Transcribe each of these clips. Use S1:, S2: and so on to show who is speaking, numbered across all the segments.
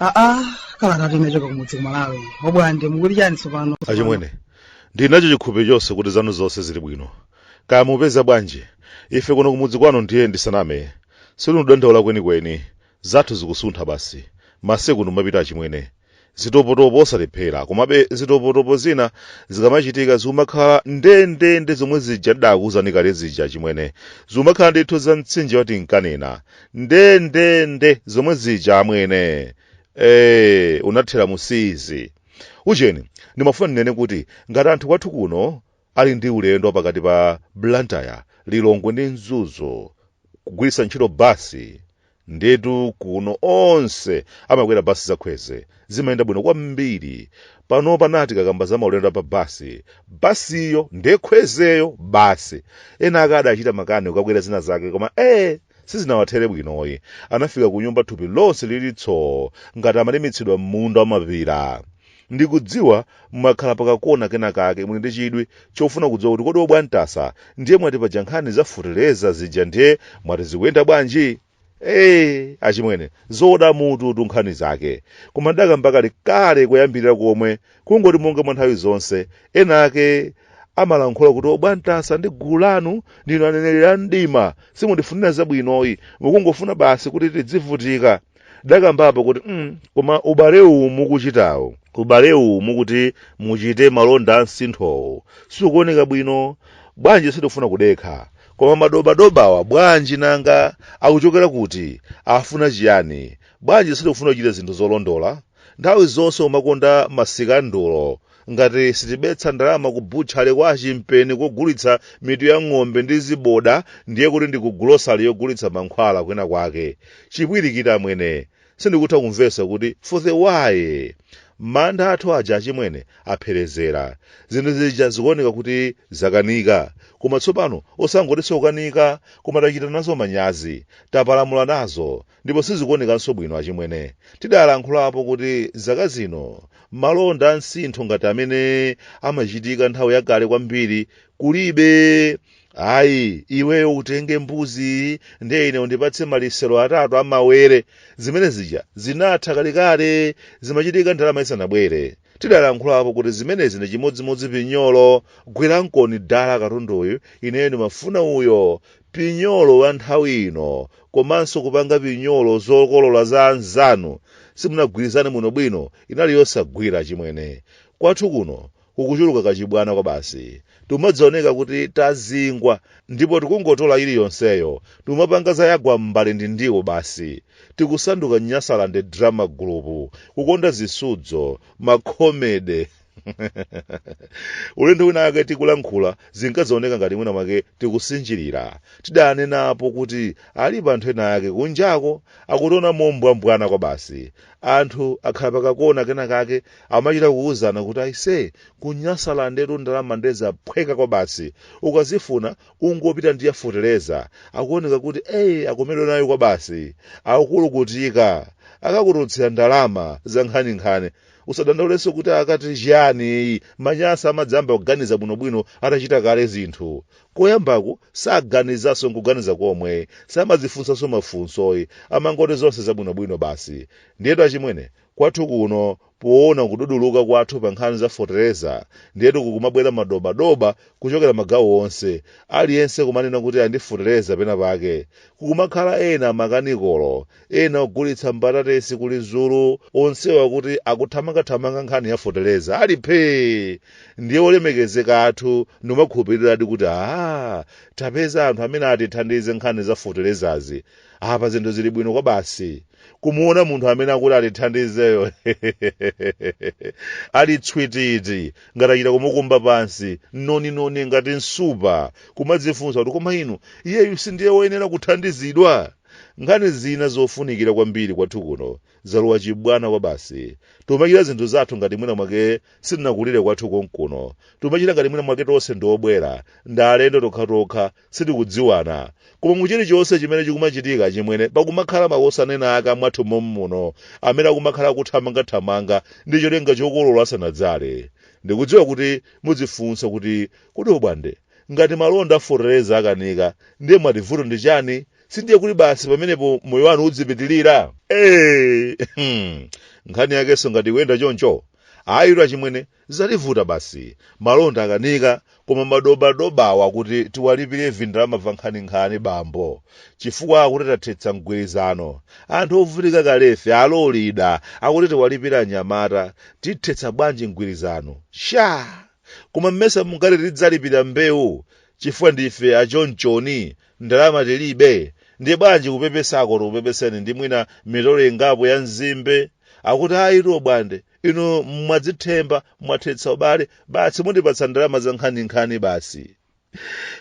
S1: aa kalata yochoka kumudzi kumalawi obwande muli chani tsopano
S2: achimwene ndili nacho chikhulupiriro chonse kuti zanu zonse zili bwino kaya mupeza bwanji ife kuno kumudzi kwanu ndiye ndisaname sitikudandaula kwenikweni Zathu zikusuntha basi. Masiku ndi kumapita achimwene. Zitopotopo osalephera. Komabe zitopotopo zina zikamachitika zimakhala ndendende zomwe zija ndidakuwuzani kale zija achimwene. Zimakhala ndithu za mtsinje wa tinkanena. Ndendende zomwe zija amwene. Ee, unathera mu siizi. Ujeni, ndimafuna ndinene kuti ngati anthu kwathu kuno ali ndi ulendo pakati pa blantyre lilongwe ndi mzuzu kugwiritsa ntchito basi ndetu kuno onse amakwera basi za kwezy zimayenda bwino kwambiri panopa tikakamba za maulendo pa basi basiyo nde kwezy-yo basi ena ake adachita makani kukakwera zina zake koma ee Sizinawathere bwinoyi. Anafika kunyumba thupi lonse lili tsoo ngati amalimitsidwa m'munda wa mapira. Ndikudziwa mmakhala pakakona kenakake muli ndi chidwi chofuna kudziwa kuti kodi obwantasa ndiye mwati paja nkhani za futereza zija ndiye mwati zikuyenda bwanji? Eee achimwene zoda mututu nkhani zake. Koma ndidakamba kale kale koyambirira komwe kungoti monga mwa nthawi zonse ena ake amalankhula kuti obwantasa ndi gulu lanu ndinu aneneri a mdima simundifunira zabwinoyi mukungofuna basi kuti tidzivutika ndidakambapo kuti mm, koma ubale uwu mukuchitawo ubale uwu mukuti muchite malonda a msinthowo sikuoneka bwino bwanji sitikufuna kudekha koma madobadobawa bwanji nanga akuchokera kuti afuna chiyani bwanji sitikufuna kuchita zinthu zolondola Nthawi zonse kumakonda masikandulo. Ngati sitibetsa ndalama ku butchery kwa a Chimpeni kogulitsa mitu ya ng'ombe ndi ziboda ndiye kuti ndi ku grocery yogulitsa mankhwala kwina kwake. Chipwirikiti amwene. Sindikutha kumvetsa kuti for the why? Mantha athu aja achimwene apherezera. Zinthu zija zikuoneka kuti zakanika. Koma tsopano osangotinso kukanika koma tachita nazo manyazi. Tapalamula nazo. ndipo sizikuonekanso bwino achimwene. Tidalankhulapo kuti zaka zino malonda a msintho ngati amene amachitika nthawi yakale kwambiri kulibe. Ayi, iweyo utenge mbuzi ndiye ine undipatse malichero atatu a mawere. Zimene zija zinatha kalekale, zimachitika ndalama isanabwere. Tidalankhulapo kuti zimenezi ndi chimodzimodzi pinyolo, gwirankoni dala katunduyu, ineyo ndimafuna uyo, pinyolo wa nthawi ino, komanso kupanga pinyolo zokolola za anzanu simunagwirizane bwinobwino, inali yosagwira chimwene. Kwathu kuno kukuchuluka kachibwana kwabasi. Tikumadzaoneka kuti tazingwa ndipo tikungotola iliyonseyo, tikumapanga za yagwa m'mbale ndi ndiwo basi. Tikusanduka Nyasaland Drama Group, kukonda zisudzo, ma comedy. Ulendo wina wake tikulankhula zinkadzaoneka ngati mwina mwake tikusinjirira. Tidanenapo kuti alipo anthu ena ake kunjako akutiona mombwambwana kwabasi. Anthu akhala pakakona kena kake amachita kuwuzana kuti aise kunyasalandetu ndalama ndi zaphweka kwabasi ukazifuna ungopita ndi yafuteleza akuoneka kuti eyi akomedwa nayo kwabasi akulukutika akakututsira ndalama za nkhaninkhani usadandaulenso kuti akati chiyani manyasa amadzayamba kuganiza bwinobwino atachita kale zinthu koyambako saganizanso nkuganiza komwe samadzifunsanso mafunsoyi amangoti zonse zabwinobwino basi ndiyetu achimwene Kwathu kuno poona kududuluka kwathu pa nkhani za fotereza ndiyetu kukumabwera madobadoba kuchokera magawo onse, aliyense kumanena kuti ali ndi fotereza pena pake. Kukumakhala ena makanikolo, ena ogulitsa mbatatesi ku Lizulu onsewa akuti akuthamangathamanga nkhani ya fotereza ali phee! Ndiye olemekezeka athu ndikumakhulupiriradi kuti aah tapeza anthu amene atithandize nkhani za foterezazi. apa zinthu zili bwino kwabasi kumuona munthu amene akuti atithandizeyo ali tswititi ngati achita kumukumba pansi noninoni ngati nsupa kumadzifunsa kuti koma inu iyeyu sindiye woyenera kuthandizidwa nkhani zina zofunikira kwambiri kwathu kuno zalowa chibwana kwabasi tikumachita zinthu zathu ngati mwina mwake sitinakulire kwathu konkuno tikumachita ngati mwina mwake tonse ndiobwera ndi alendo tokhatokha sitikudziwana koma mu chilichonse chimene chikumachitika chimwene pakumakhala makosana ena ake akumwathu mommuno amene akumakhala kuthamangathamanga ndi cholinga chokolola asanadzale ndikudziwa kuti mudzifunsa kuti kodi abwande ngati malonda afotereza akanika ndiye mwati vuto ndi chani sindiye kuti basi pamenepo moyo wanu udzipitirira Eh, hmm. nkhani yakenso ngati ikuyenda choncho ayitu achimwene Zativuta basi. Malonda akanika koma madobadobawa kuti tiwalipire vindalama vankhaninkhani bambo chifukwa akuti tathetsa mgwirizano. Anthu ovutika kalefe alolida akuti tiwalipire anyamata tithetsa bwanji mgwirizano? Shaa! Koma mesa mungati tidzalipira mbewu chifukwa ndife achonchoni ndalama tilibe? Ndiye bwanji kupepesako tikupepeseni ndi mwina mitolo ingapo ya nzimbe? Akuti ayitu bwande. inu mwadzichemba mwathetsa ubale basi mundipatsa ndalama za nkhaninkhani basi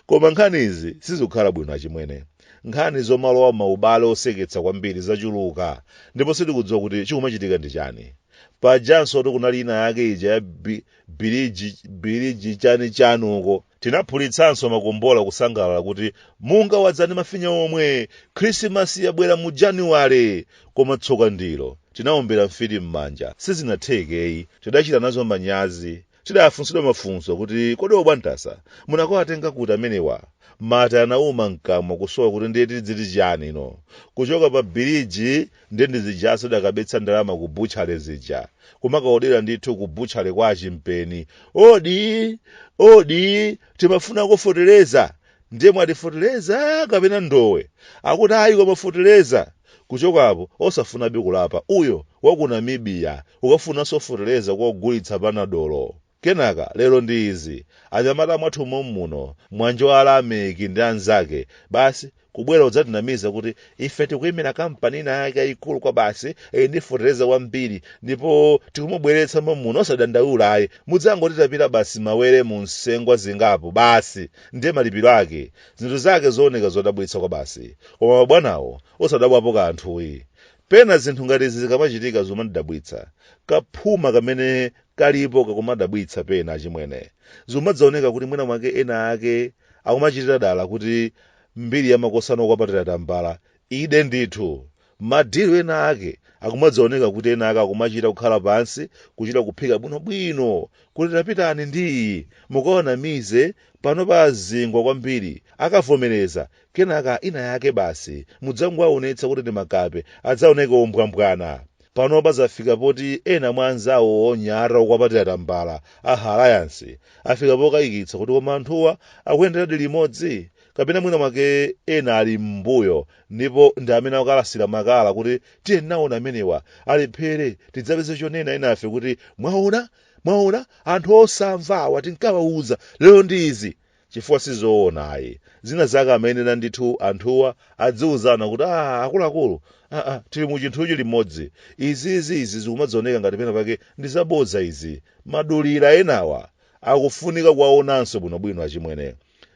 S2: koma nkhani izi sizikukhala bwino achimwene nkhani zomalowa maubale oseketsa kwambiri zachuluka ndipo sitikudziwa kuti chikumachitika ndi chani pajanso kuti kunali ina yake ija ya bi- biliji biliji chani chani uko Tinaphulitsanso makombola kusangalala kuti munga wadza ndi mafinya omwe, Khrisimasi yabwera mu Januwale! Koma tsoka ndilo, tinaombera mfiti m'manja. Sizinatheke yi. Tidachita nazo manyazi. Tidafunsidwa mafunso kuti kodi obwantasa munakawatenga kuti amenewa? Mate anauma m'kamwa kusowa kuti ndiye tidziti chani ino. Kuchoka pa biliji ndiye ndi zijaso dakabetsa ndalama ku butchale zija kumakaodera ndithu ku butchale kwa achimpeni odi odi timafuna fotereza ndiye mwati fotereza kapena ndowe akuti ayi koma fotereza kuchokapo osafunabe kulapa uyo waku namibiya ukafunanso fotereza kogulitsa panadolo Kenaka, lero ndi izi, anyamata mwathu mommuno, Mwanjo Alameki ndi anzake, basi, kubwera kudzatinamiza kuti ife tikuimira kampani inayake yaikulu kwabasi, ili ndi fotereza wambiri, ndipo tikumubweretsa mommuno. Osadandaula ayi. Mudzangotitapira basi mawere mu nsengwa zingapo, basi. Ndiye malipiro ake. Zinthu zake zooneka zodabwitsa kwabasi. Koma mabwanawo, osadabwapo kanthu yi. Pena zinthu ngati izi zikamachitika zimandidabwitsa. Kaphuma kamene kalipo kakumadabwitsa pena achimwene. Zikumadzaoneka kuti mwina mwake ena ake akumachitira dala kuti mbiri ya makosana okwapatira tambala ide ndithu. Madilu ena ake akumadzaoneka kuti ena ake akumachita kukhala pansi kuchita kuphika bwinobwino kuti tapitani ndi iyi mukawanamize panopa azingwa kwambiri akavomereza kenaka ina yake basi mudzangowaonetsa kuti ndi makape adzaoneke ombwambwana panopa zafika poti ena mwa anzawo onyada okwapatira tambala a alliance afika pokayikitsa kuti koma anthuwa akuyenderadi limodzi kapena mwina mwake ena ali m'mbuyo ndipo ndi amene akukalasira makala kuti tiyeni nawo amenewa alephere tidzapeze chonena enafe kuti mwaona mwaona anthu osamva awa tinkawauza lero ndi izi chifukwa sizoona ayi zina zake amayenera ndithu anthuwa adziuzana kuti a akuluakulu aa tili mu chinthuchi limodzi izizi izi zikumadzioneka ngati pena pake ndi zabodza izi madulira enawa akufunika kuwaonanso bwinobwino achimwene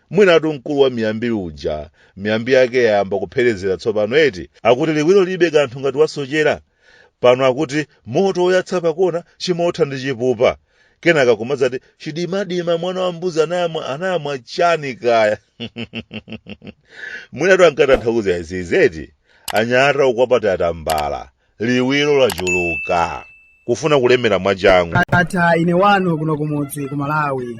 S2: mwinatu mkulu wa miyambi uja miyambi yake yayamba kupherezera tsopano eti akuti liwiro lilibe kanthu ngati wasochera pano akuti moto woyatsa pakona chimotha ndi chipupa kenaka kumadzati chidimadima mwana wa mbuzi anayamwa chani kaya mwinatu ankatanthauza izizi eti anyata ukwapata atambala liwiro lachuluka kufuna kulemera mwachangu ata ine wanu
S1: kuno kumudzi ku malawi